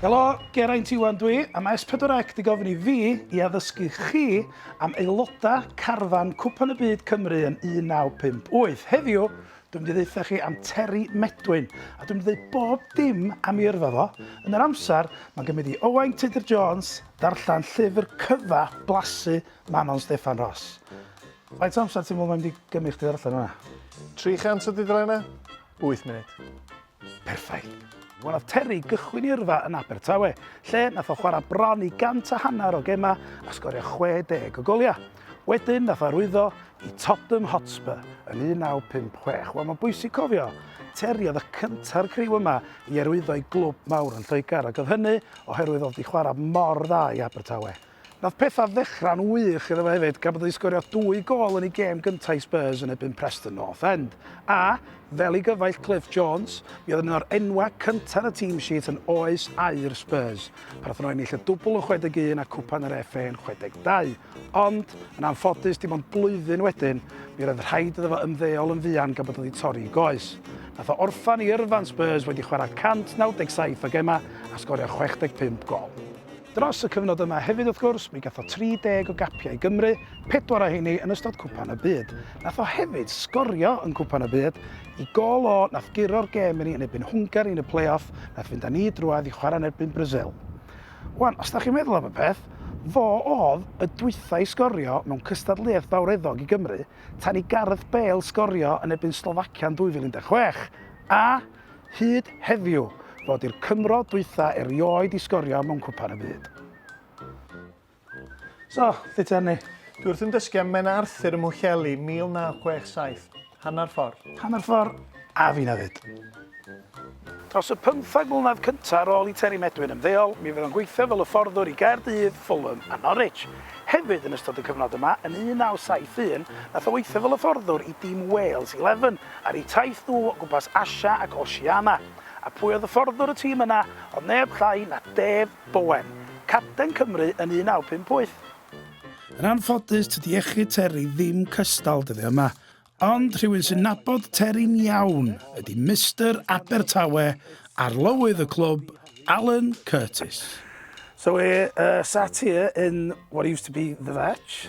Helo, Geraint Iwan dwi, a mae S4C 'di gofyn i fi i addysgu chi am aelodau carfan Cwpan y Byd Cymru yn 1958. Heddiw, dwi'n mynd i ddeutha chi am Terry Medwyn, a dwi'n mynd i ddeud bob dim am ei yrfa fo. Yn yr amser, mae'n gymryd i Owain Tudur Jones ddarllen llyfr cyfa blasu Manon Steffan Ros. Faint o amser ti'n meddwl mae'n mynd i gymryd chdi ddarllen hwnna? 300 o dudalennau? 8 munud. Perffaith. Wel nath Terry gychwyn i yrfa yn Abertawe, lle nath o chwarae bron i gant a hanner o gemau a sgorio 60 o goliau. Wedyn nath o arwyddo i Tottenham Hotspur yn 1956. Wel mae'n bwysig cofio, Terry oedd y cynta'r criw yma i arwyddo i glwb mawr yn Lloegr ac oedd hynny oherwydd oedd wedi chwarae mor dda i Abertawe. Nath petha ddechra'n wych iddo fo hefyd gan bod o 'di sgorio dwy gôl yn ei gêm gynta' i Spurs yn erbyn Preston North End a, fel ei gyfaill Cliff Jones, mi oedd yn un o'r enwau cynta' yn y team sheet yn oes aur Spurs pan nathon nhw ennill y dwbl yn 61 a Cwpan yr FA yn 62. Ond, yn anffodus, dim ond blwyddyn wedyn, mi roedd rhaid iddo fo ymddeol yn fuan gan bod o 'di torri 'i goes. Nath o orffen ei yrfa'n Spurs wedi chwarae 197 o gemau a sgorio 65 gôl. Dros y cyfnod yma hefyd wrth gwrs, mi gath o 30 o gapiau i Gymru, pedwar o heini yn ystod Cwpan y Byd. Nath o hefyd sgorio yn Cwpan y Byd, i gôl o nath guro'r gêm i ni yn erbyn Hwngari yn y play-off nath fynd â ni drwadd i chwarae yn erbyn Brasil. Wan, os 'da chi'n meddwl am y peth, fo odd y dwytha i sgorio mewn cystadleuaeth fawreddog i Gymru tan i Gareth Bale sgorio yn erbyn Slovacia yn 2016, a, hyd heddiw fod i'r Cymro dwytha erioed i sgorio mewn Cwpan y Byd. So, lle ti arni? Dwi wrth yn dysgu am Menna Arthur ym Mhwllheli 1967. Hanner ffordd. Hanner ffordd, a fi na fyd. Dros y pymthag mlynedd cyntaf ar ôl i Terry Medwin ymddeol, mi fydd o'n gweithio fel hyfforddwr i Gaerdydd, Fulham a Norwich. Hefyd, yn ystod y cyfnod yma, yn 1971, nath o weithio fel hyfforddwr i dîm Wales Eleven, ar eu taith nhw o gwmpas Asia ac Oceania. A pwy oedd hyfforddwr y tîm yna oedd neb llai na Dave Bowen, capten Cymru yn 1958. Yn anffodus tydi iechyd Terry ddim cystal dyddiau yma, ond rhywun sy'n nabod Terry'n iawn ydi Mister Abertawe, arlywydd y clwb, Alan Curtis. So we're sat here in what used to be the Vatch.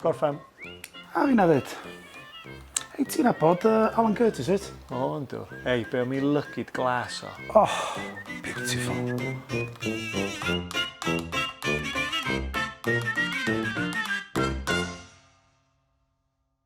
Gorffen. A fi na fyd. Hei, ti'n abod uh, Alan Curtis, wyt? O, yn dw. Hei, be o mi lygid glas o. Oh, beautiful.